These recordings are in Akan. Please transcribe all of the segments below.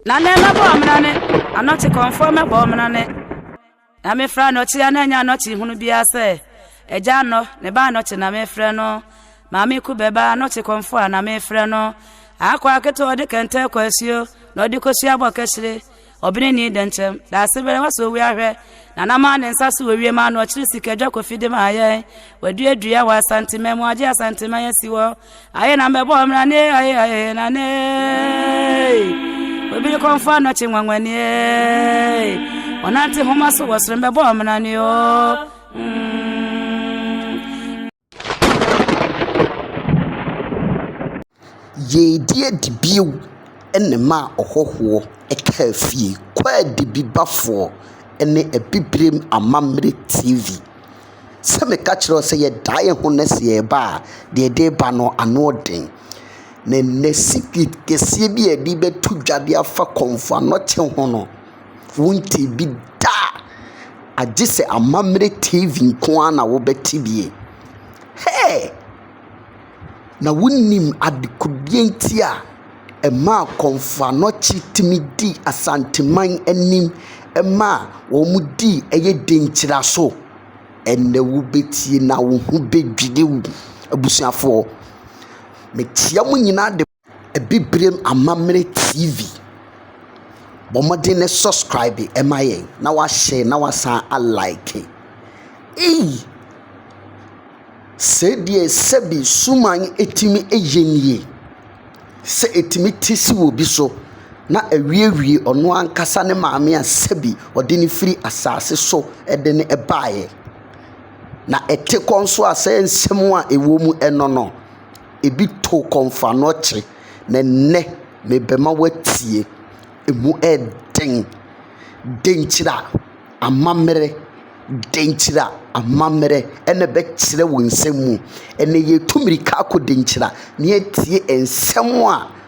Na nɛ mɛbɔ ɔmena ne anɔkye kɔmfoɔ mɛbɔ ɔmena ne Na mefrɛ anɔkye a na ɛnyɛ anɔkye hunu biara sɛ Agya anɔ ne ba anɔkye na mefrɛ no Maame ku bɛ ba anɔkye kɔmfoɔ a na mefrɛ no Akoa ketewa ɔde kɛntɛn kɔ asuo na ɔde kɔsua bɔ kɛhyire Ɔbene ni dɛnkyɛm daase bɛrɛ wasɔ owia ahwɛ Na na maa ne nsa so wɔ wiem ano ɔkyere sika dwa kɔfi de maa yɛn Waduadua wɔ Asantema mu agye Asantema yɛn si wɔ Aye na me boy mra ne aye aye na ne. Obi de konfa no chi nwanwani. Onante homa so wasre me boy mra ne o. Yɛredi adi bio ne ma ɔhɔhoɔ kaa fie, Kwaadibibafoɔ ne Abibirem Amammerɛ TV. Sɛ meka kyerɛ wo sɛ yɛdaa yɛn ho no ase reba a, deɛ ɛde reba no, ano den. Na ɛnnɛ secret kɛseɛ bi a yɛde bɛto dwa de afa kɔmfo anɔkye ho no, wontee bi da a, agye sɛ amammerɛ TV nko ara na wobɛte bi. Hey! na wonim adekodeɛ nti a ɛmaa Kɔmfoanɔkye tumi dii Asanteman anim ma wɔdii ɛyɛ denkyira so. Ɛnnɛ wobɛtie na wo ho bɛdwiri wo, abusuafoɔ. Mekyia mo nyinaa de. Abibirem amammerɛ TV. Bɔ mmɔden na subscribe ma yɛn, na woahyɛ na woasan alike. Ei! Sei deɛ sɛbi suman tumi yɛ nie, sɛ ɛtumi te si wɔ obi so na awiewie ɔno ankasa ne maame a sɛbi ɔde no firi asaase so de no baeɛ, na ɛte kɔ nso a sɛ nsɛm a ɛwom no no. Ebi to kɔmfoano kye, na ɛnnɛ merebɛma woatie. Emu yɛ den. Dɛn nti na amammerɛ, dɛn nti na amammerɛ na ɛbɛkyerɛ wo nsɛm mu? Ɛnnɛ yɛretu mmirika akɔ dɛn nti na na yɛatie nsɛm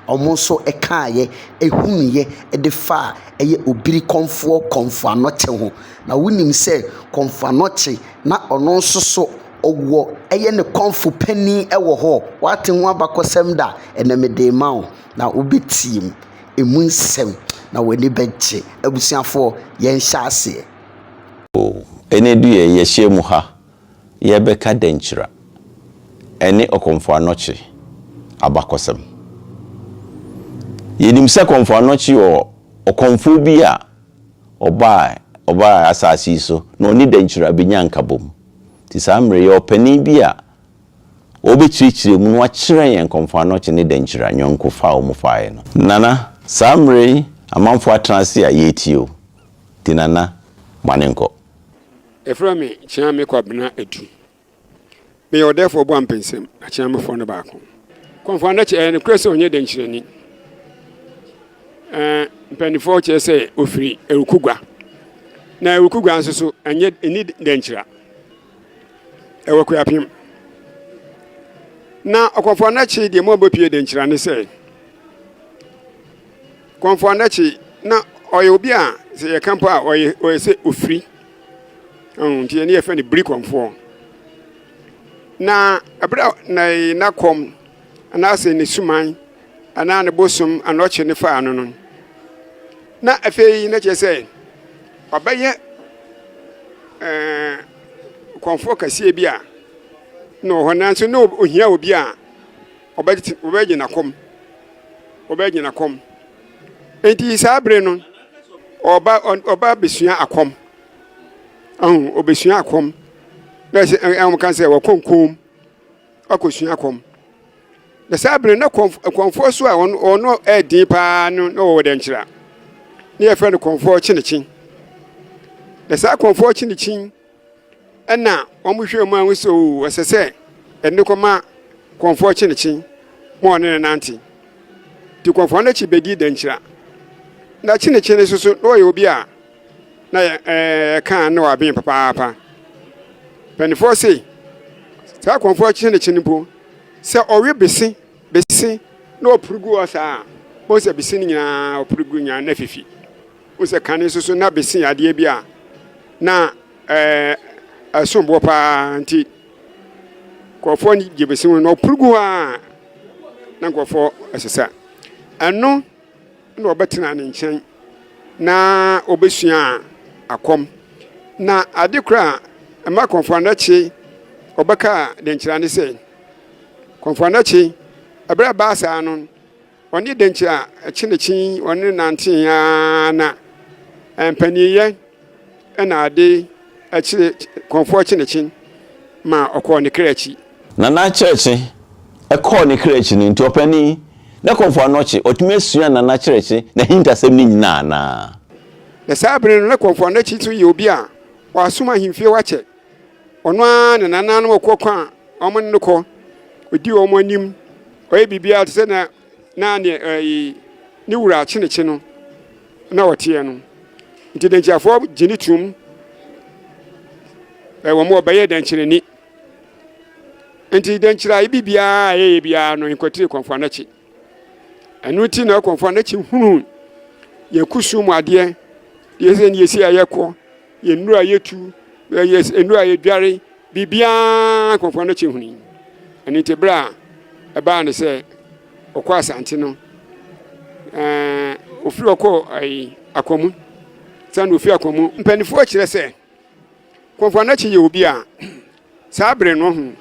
a wɔn nso kaeɛ, ɛhunuiɛ de faa ɛyɛ Obirikɔmfoɔ kɔmfoano kye ho. Na wonim sɛ kɔmfoano kye na ɔno nso so. ɔwɔ ɛyɛ ne kɔmfo panin wɔ hɔ. Wate ho abakɔsɛm da, ɛnnɛ mede rema wo, na wobɛtie mu, ɛmu nsɛm, na w'ani bɛgye. Abusuafoɔ, yɛnhyɛ aseɛ. O, ɛnnɛ du yɛ, yɛahyia mu ha, yɛrebɛka Dankyira ne Ɔkɔmfo Anɔkye abakɔsɛm. Yɛnim sɛ Kɔmfo Anɔkye yɛ ɔkɔmfoɔ bi a ɔbaa ɔbaa asase yi so, na ɔne Dankyira bɛnyaa nkabom. Te saa mmerɛ yi, ɔpanin bi a ɔrebɛkyerɛkyerɛ mu no akyerɛ yɛn Nkɔmfoɔ Anɔkye ne Dankyira ayɔnkofa a wɔfaeɛ no. Nana, saa mmerɛ yi amanfoɔ atena ase a, yɛretie o. Nti Nana, moane nkɔ. Yɛfrɛ me Kyeame Kwabena Adu. Meyɛ ɔdɛɛfoɔ Boampensem Akyeamefoɔ no baako. Nkɔmfoɔ Anɔkye, ɛyɛ nokorɛ sɛ ɔnyɛ dankyirani? Ɛɛ, mpanimfoɔ kyerɛ sɛ ɔfiri Awukugua. Na Awukugua nso so, ɛnyɛ ɛni dɛnkyira. Ɛwɔ Kuapem. Na ɔkɔmfoɔ anakye deɛ mu a wɔbɛpie dɛnkyira ne sɛ, kɔmfoɔ anakye na ɔyɛ obi a sɛ yɛka mpo a ɔyɛ ɔyɛ sɛ ofiri. Ɛho nti ɛne yɛfɛ no biri kɔmfoɔ. Na ɛberɛ na na kɔm. anaasɛ ne suman anaa ne bosom anaa ɔkyere no faa no no, na afei na kyerɛ sɛ ɔbɛyɛ ɛɛ kɔnfoɔ kɛseɛ bi a na ɔwɔ hɔ nanso na ohia obi a ɔbɛgye ɔbɛgye n'akɔm ɔbɛgye n'akɔm nti saa bere no ɔba ɔba besua akɔm ɔbɛsua akɔm na ɛsɛ ɛwɔn ka sɛ wɔkɔnkɔn mu. akɔsua kɔm. Na saa bere na kɔmfoɔ so a ɔno ɛden paa no na ɔwɔ dɛnkyerɛ a ne yɛfrɛ no kɔmfoɔ kyenekyen na saa kɔmfoɔ kyenekyen ɛna wɔhwɛ mu ahu sɛ o ɛsɛ sɛ ɛne kɔma kɔmfoɔ kyenekyen ma ɔne ne nante nti kɔmfoɔ no akyi bɛdi dɛnkyerɛ na kyenekyen nso so na ɔyɛ obi a na yɛ ɛɛ ɛka ne w'adwene papaapa mpanimfoɔ se saa kɔnfoɔ akyi ne kyi no mpo sɛ ɔwe bese bese na ɔpuru gu hɔ saa a wɔn sɛ bese no nyinaa ɔpuru gu nyinaa na fifi wɔn sɛ kane nso so na bese yɛ adeɛ bi a na ɛɛ ɛsom boɔ paa nti kɔnfoɔ gye bese ho na ɔpuru gu hɔ a na nkɔfoɔ ɛsesa ɛno. na ɔbɛtenaa ne nkyɛn na ɔbɛsua akɔm. Na ade koro a ɛma Kɔmfo Anokye ɔbɛka Dankyira ne sɛ, Kɔmfo Anokye, ɛberɛ a ɛbaa saa no, ɔne Dankyira kyenekyen, ɔne no nantee ara na mpaniniyɛ Ɛna ade kyee Kɔmfoɔ Kyenekyen maa ɔkɔɔ ne kra akyi. Nana Kyerɛkye kɔɔ ne kra akyi no nti ɔpanin, na Kɔmfoɔ Anɔkye, watumi asua Nana Kyerɛkye n'ahintasɛm no nyinaa anaa? Na saa bere no na Kɔmfoɔ Anɔkye nso yɛ obi a wasom ahemfie hɔ akyɛ. Ɔno ara ne nananom ɔkɔ kwan a wɔne no kɔ, ɔdi wɔn anim, ɔyɛ biribiara te sɛ nea na ne ɛyi ne wura akyenekye no na ɔteɛ no nti dɛnkyerɛfoɔ gye ne tom wɔn a wɔbɛyɛ dɛnkyerɛni nti dɛnkyerɛ bi biara a ɛyɛ biara no nkɔtire kɔnfoɔ n'akyi ɛno ti na kɔnfoɔ n'akyi hunu yɛn kusum mu adeɛ yɛsɛ ne yɛsi a yɛkɔ Yɛ nnuro a yɛtu, yɛ nnuro a yɛdware, biribiara nkurɔfoɔ no kye huni. Ɛno nti berɛ a ɛbaa ne sɛ ɔkɔ asante no, ofiri ɔkɔ akwamu sɛ na ofiri akwamu. Mpanimfoɔ kyerɛ sɛ kurɔfoɔ no akye yɛ obi a Saa bere no ho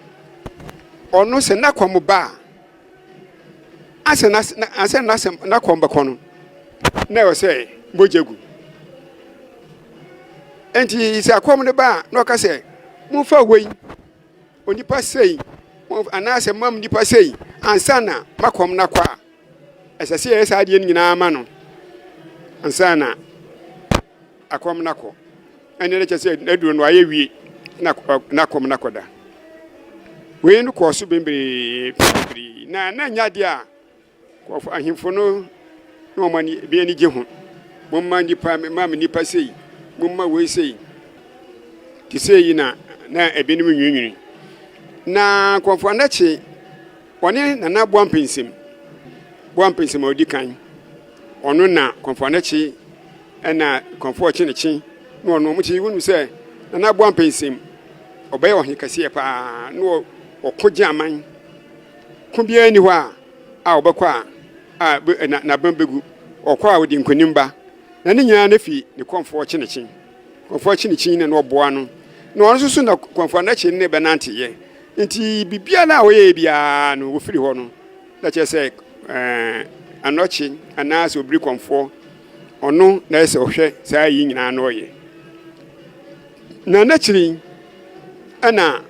ɔno sɛ na kɔm ba a, asɛ na asɛ na asɛ na kɔm bɛkɔ no na ɛwɔ sɛ mogya gu nti sɛ akɔm no ba a na ɔka sɛ momfa wei onipa sei anaasɛ mam nipa sei ansa na makɔm no akɔ a ɛsɛ sɛ yɛyɛ saa adeɛ no nyinaa ma no ansa na Akɔm no akɔ. Ɛnneɛ na kyerɛ sɛ n'aduro no ayɛ wie na n'akɔm no akɔda. Wei no kɔɔ so bebree bebree na na nyɛ adeɛ a nkurɔfo ahemfo no na wɔn ani bi ani gye ho. Momma nnipa mma me nnipa sei, momma wei sei. Te sɛ yi na na ebinom nwiinwini. Na nkurɔfo anakye wɔne nana boa mpɛnsɛm boa mpɛnsɛm a ɔdi kan ɔno na nkurɔfo anakye ɛna kɔnfoɔ kyenekye na ɔno ɔmo kye wɔn sɛ nana aboa mpɛnsɛm ɔbɛyɛ ɔhe kɛseɛ paa na ɔko gye aman ko biara ni hɔ a a ɔbɛkɔ a a n'abam bɛgu ɔkɔ a ɔde nkonim ba na ne nyinaa no fi ne kɔnfoɔ kyenekye kɔnfoɔ kyenekye na na ɔboa no na ɔno nso so na kɔnfoɔ anakye ne bɛnanteyɛ nti biribiara a ɔyɛ biara no wɔfiri hɔ no Na kyerɛ sɛ anɔkye anaasɛ obiri kɔmfoɔ ɔno na ɛsɛ ɔhwɛ saa yi nyinaa na ɔyɛ na n'akyiri ɛna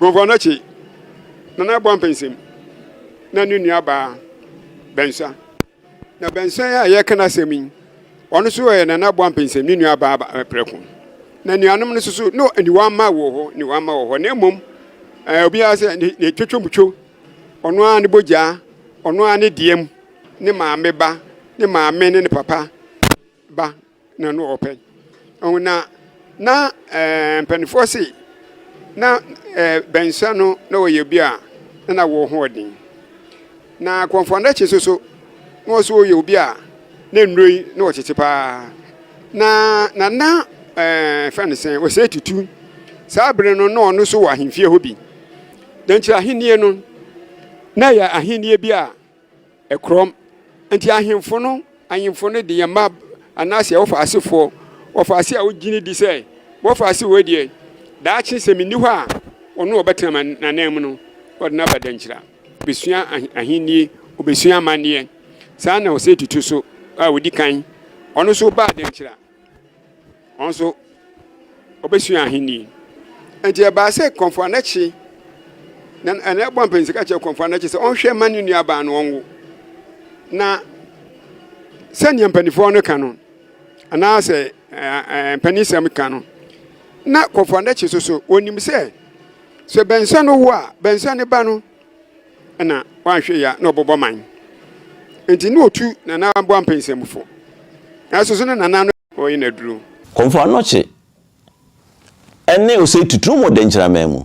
kɔmfoɔ anɔkye na n'abɔ mpɛnsɛm na ne nuabaa bɛnsa na bɛnsa a yɛka n'asɛm yi ɔno nso yɛ na n'abɔ mpɛnsɛm ne nuabaa prɛko na nuanom no nso so no aniwa mma wɔ hɔ aniwa mma wɔ hɔ na mmom obiara sɛ ne twetwomtwo Ɔno ara ne bogyaa, ɔno ara ne deɛm, ne maame ba, ne maame ne ne papa ba na no ɔpɛ. Ɔho na na eh, mpanimfoɔ se na eh, bɛnsa no na ɔyɛ obi a na na wɔ ho ɔden. Na kɔnfɔndakye nso so na ɔso ɔyɛ obi a na nnuro yi na ɔtete paa. Na na na eh, fɛn ne sɛn, ɔsɛ tutu. Saa bere no na ɔno so wɔ ahemfie hɔ bi. Na nti ahenni no na ɛyɛ ahenni bi a ɛkorɔm. Nti ahemfo no, ahemfo no de yɛn mma anaasɛ wɔfa asefoɔ, wɔfa ase a wogyini di sɛ wɔfa ase wɔ deɛ daakye sɛ menni hɔ a ɔno a ɔbɛtena n'anan mu no ɔde no aba dankyira bɛsua ahenni ɔbɛsua amanneɛ saa na ɔsɛ tutu so a ɔdi kan ɔno so baa dankyira wɔn nso wɔbɛsua ahenni nti ɛbaa sɛ kɔmfo anakye na ɛna ɛbɔ mpanyinsi ka kyerɛ kɔmfo anakye sɛ ɔnhwɛ ma ne nua baa no ɔnwo na sɛnea mpanimfoɔ no ka no anaasɛ ɛɛ mpanisɛm ka no na kɔmfo anakye soso onim sɛ sɛ bɛnsa no wo a bɛnsa ne ba no. na wanhwɛ yɛ a na ɔbɔbɔ man nti na otu nana aboa mpɛnsɛmufo nanso so na nana no ɔyɛ n'aduro. Kɔmfo Anokye ne Osei Tutu wɔ Dɛnkyiraman mu.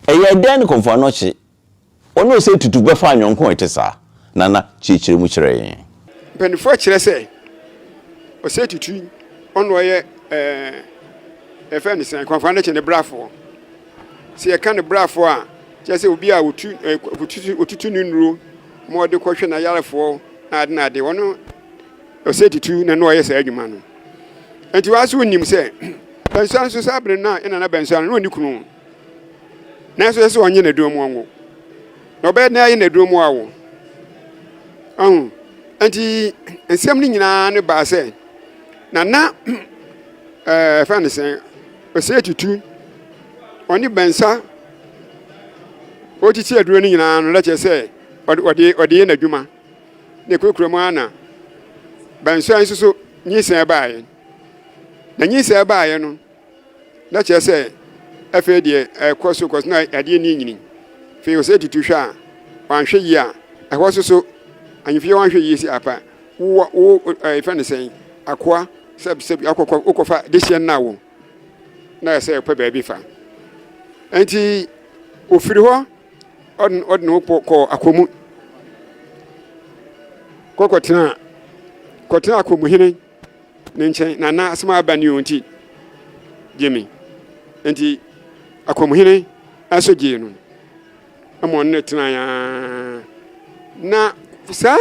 Ɛyɛɛ dɛn ne Kɔmfo Anokye ne Osei Tutu bɛfaa yɔnko a ɛte saa? Nana kyerɛkyerɛ mu kyerɛ yɛn. Mpanyinfoɔ akyerɛ sɛ ɔsɛ tutu ɔna ɔyɛ ɛɛ ɛfɛ ne sɛn kwanfaa ne kyɛ ne brafoɔ sɛ yɛka ne brafoɔ a kyerɛ sɛ obi a otu ɛɛ otutu ne nuro ma ɔde kɔhwɛ na yarefoɔ na ade na ade ɔno ɔsɛ tutu na na ɔyɛ saa adwuma no nti wɔn nso nim sɛ bɛnsoa nso saa abiri na ɛna na bɛnsoa no na ɔne kunu. nanso ɛsɛ sɛ ɔnye na dɔn mu ɔnwo na ɔbɛyɛ dɛn ayɛ na dɔn mu awo ɔho nti nsɛm no nyinaa ne baa sɛ na na ɛɛ fɛn ne sɛn ɔsɛ tutu ɔne bɛnsa ɔtiti aduro no nyinaa no lɛkyɛ sɛ ɔde ɔde yɛ n'adwuma na kurakura mu ana bɛnsa nso so nyinsɛn baayɛ na nyinsɛn baayɛ no. na kyerɛ sɛ afei deɛ ɛkɔ so kɔ so na adeɛ ni nyini fei ɔsɛ tutu hwɛ a wanhwɛ yie a ɛhɔ so so anyimfie wanhwɛ yie si apa wo wo ɛfɛ ne sɛn akoa sɛ sɛ akɔkɔ wokɔfa dehyɛ nna wo na ɛsɛ ɛpɛ baabi fa nti ofiri hɔ ɔde ɔde ne ho kɔ akɔmu kɔkɔtena kɔtena akɔmuhene ne nkyɛn na na asɛm a aba ne ɔnti gye me nti akɔmhene nso gyee no ma ɔne no tenae ara na saa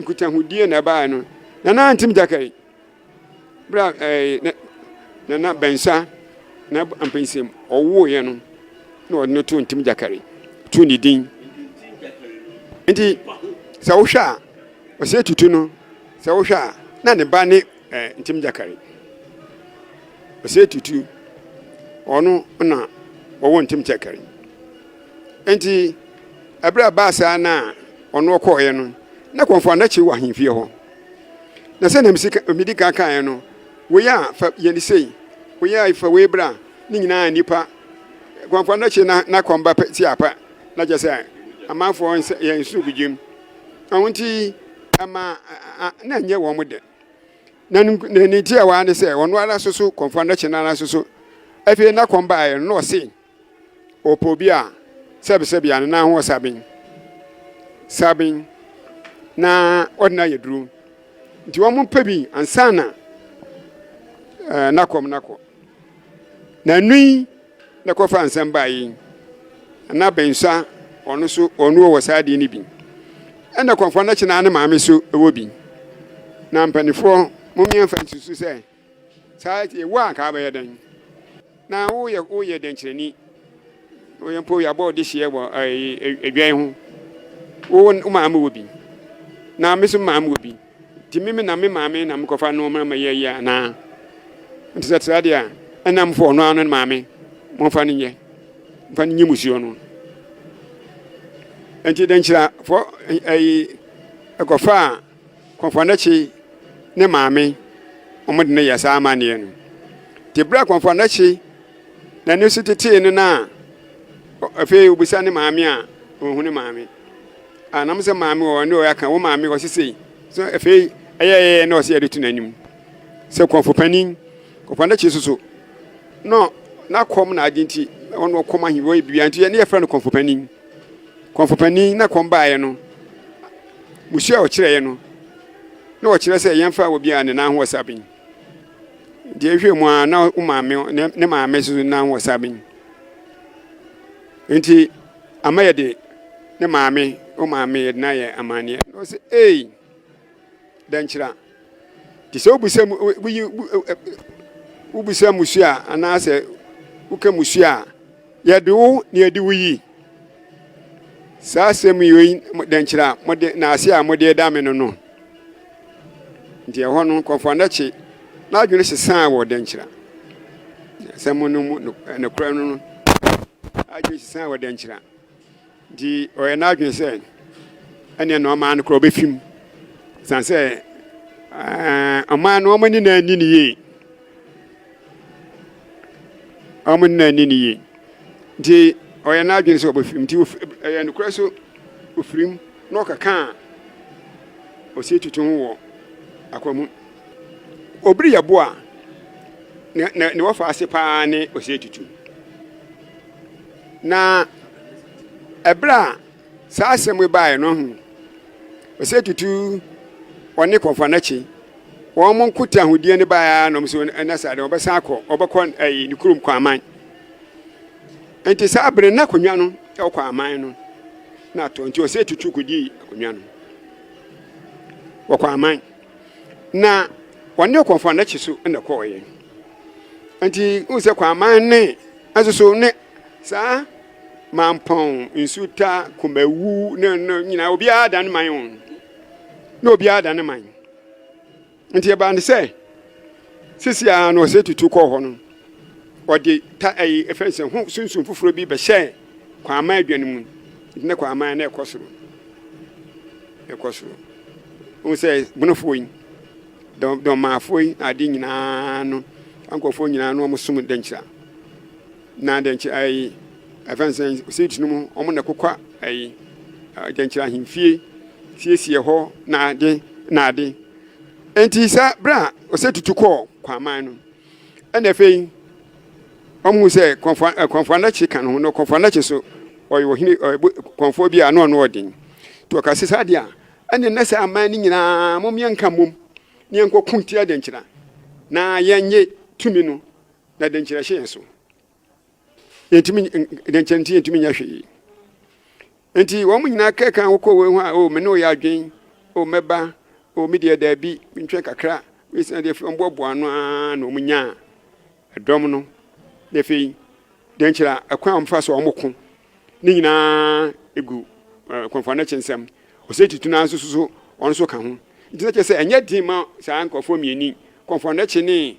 nkutahodie na ɛbaeɛ no na na ntim gyakari berɛ a na na bɛnsa na mpɛnsɛm ɔwoeɛ no na ɔde no to ntim gyakari to ne din nti sɛ wohwɛ a Ɔsɛ Tutu no, sɛ wohwɛ a, na ne ba ne eh, Ntim Gyakari. Ɔsɛ Tutu, ɔno na ɔwɔ Ntim Gyakari. Enti, ɛberɛ a baa saa na ɔno ɔkɔɔeɛ no, na Kɔmfo Anakye wɔ ahemfie hɔ. Na sɛ na medi kan kaeɛ no, wei a fa yɛne sei, wei a fa wei bra, ne nyinaa nnipa. Kɔmfo Anakye na n'akɔmba ti apa, na kyɛ sɛ amanfoɔ yɛn nsukugyem. Ɛno nti, ɛma na nyɛ wɔn dɛ. Na ne tiawa ara ne sɛ ɔno ara so so kɔmfoɔ no kye no ara so so. Afei na kɔm baeɛ no na ɔse ɔpɛ obi a sɛbesɛbe a ne nan ho saben saben na ɔde no ayɛ duro. Nti wɔn mpɛ bi ansa na eh, na kɔm no akɔ. na nui na kɔfa nsɛm baa yi na bɛnsa ɔno so ɔno wɔ saa adeɛ no bi ɛna kɔmfoɔ no kyena ne maame so ɛwɔ bi na mpanimfoɔ momeɛmfa nsusu sɛ saa ɛwɔ a nka bɛyɛ dɛn na woyɛ woyɛ dɛnkyerɛni woyɛ mpo yɛabɔ ɔde hyeɛ wɔ adwan ho wo maame wɔ bi na me so maame wɔ bi Nti me me na me maame na mekɔfa nnoɔma ma yɛ yɛ anaa? Nti sɛ tra deɛ a, ɛna mfa ɔno ano ne maame momfa no nyɛ mfa no nye musuo no. Nti dɛnkyerɛfoɔ ɛyi ɛkɔfa a kɔnfɔnɛkye ne maame wɔn de no yɛ saa amanneɛ no. Nti berɛ a kɔnfɔnɛkye n'ani so tetee no no a afei obisa ne maame a ɔhu ne maame. a nam sɛ maame wɔ ne ɔyɛ aka wo maame ɔsi sei so afei ɛyɛ ɛyɛ na ɔsi ɛde to n'anim sɛ kɔnfo panin kɔkɔ n'akyi soso no na kɔm na adi nti ɔno kɔm ahi wɔ ebibia nti ɛne yɛfrɛ no kɔnfo panin kɔnfo panin na kɔm baeɛ no musu a ɔkyerɛeɛ no na ɔkyerɛ sɛ yɛmfa obi a ne nan ho ɔsa bin deɛ ehwɛ mu a na wo maame ne maame soso nan ho ɔsa bin nti Ama yɛde ne maame, o maame yɛde no ayɛ amanneɛ. Na ɔsɛ ei, dɛnkyira. Te sɛ wobisa mu, woyi, wobisa musu a, anaasɛ woka musu a, yɛde wo na yɛde wo yi. Saa asɛm yi, dɛnkyira, mode, na ase a mode da me no no. Nti ɛhɔ no, nkurɔfoɔ anɛkye n'adwene sesaa wɔ dɛnkyira asɛm no mu, nokorɛ no no adwene sesaa wɔ dɛnkyira. Nti ɔyɛ n'adwene sɛ ɛneɛ na ɔmaa no korɔ ɔbɛfi mu, sane sɛ ɔmaa no ɔma ni na ani ne yie, ɔma ni na ani ne yie. Nti ɔyɛ n'adwene sɛ ɔbɛfi mu, nti ɛyɛ nokorɛ so ɔfiri mu. Na ɔkɛkãa ɔsie tutu ho wɔ akwan mu. Obiri yɛ bo a ne ne wɔfa ase paa ne ɔsie tutu. Na ɛberɛ a saa asɛm yi baeɛ no, ɔhunu ɔsie tutu ɔne kɔmfoanakye wɔn mo nko te ahodeɛ no baeɛ ara na wɔn nso ɛna saa deɛ wɔbɛsan akɔ wɔbɛkɔ ɛyi ne kurom kwaman. Enti saa bere no na akonnwa no wɔ kɔ aman no na atɔ nti ɔsɛ tutu kodii akonnwa no wɔ kɔ aman na wɔne ɔkɔmfo anakyi so na kɔɔeɛ nti wohu sɛ kɔ aman ne nso so ne saa mampɔn nsuta kumawu ne no nyinaa obiara da ne man o na obiara da ne man Nti ɛbaa ne sɛ, sisi ara na ɔsɛ tutu kɔɔ hɔ no, ɔde ta ɛyi ɛfɛ nsɛ ho sunsun foforɔ bi bɛhyɛ kwaaman adwa no mu. Nti na kwaaman na ɛkɔ soro, ɛkɔ soro. Wɔn sɛ bonofoɔ yi, dɔmaafoɔ yi, ade nyinaa no, nkurɔfoɔ nyinaa no wɔn som dɛnkyira. Na dɛnkyɛ ayi afɛnsɛn sɛ tunu mu ɔmo na kokwa ayi dɛnkyɛ ahemfie siesie hɔ na ade na ade nti sɛ bere a ɔsɛ tutu kɔɔ kwaman no ɛna afei ɔmo sɛ kɔnfɔ eh, kɔnfɔ anakye ka no ho no kɔnfɔ anakye so ɔyɛ ɔhene kɔnfɔ bi a ano ano ɔden to ɔka sɛ saa deɛ a ɛne na sɛ aman no nyinaa mo mmea nka mmom ne yɛnkɔ ko tia dɛnkyɛ na yɛnye tumi no Na dɛn nti na ɛhyɛ yɛn so? Yɛntumi, dɛn nti nti yɛntumi nyɛ hwee? Nti wɔn nyinaa kɛkan wokɔ wei ho a, o me ne oyɛ adwen, o mɛba, o me deɛ daabi, mentwɛn kakra. Wei sɛ deɛ afei wɔboaboa ano ara na wɔn nyaa ɛdɔm no. Na afei, dɛn nti na ɛkwan a wɔfa so a wɔko ne nyinaa egu nkurɔfoɔ no akyi nsɛm? Ɔsɛ tutu no nso so wɔn nso ka ho. Nti na kyerɛ sɛ ɛnyɛ den ma saa nkurɔfoɔ mmienu, nkurɔfoɔ no akyi ne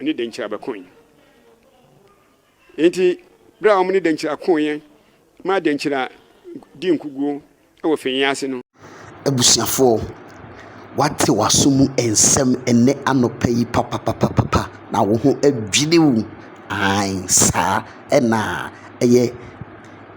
ne Denkyira bɛkoe. Enti bere a wɔne Denkyira koeɛ maa Denkyira dii nkuguo wɔ Fenye ase no, Abusuafoɔ, woate w'aso mu nsɛm ɛnnɛ anɔpa yi papapapapa na wo ho adwiri wo. Ae, saa na ɛyɛ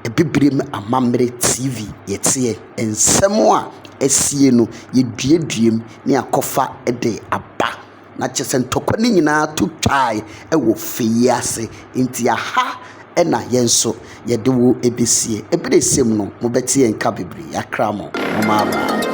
Abibirem Amammerɛ TV yɛteɛ. Nsɛm a asie no, yɛduaduam na yɛakɔfa de aba. Na kyerɛ sɛ ntɔkwa no nyinaa to twae wɔ fɛ yi ase. Nti aha na yɛn nso yɛde wo bɛsie. Ɛberɛ ɛsɛ mu no, mobɛte yɛn nka bebree. Yɛakra mo. Momma aba.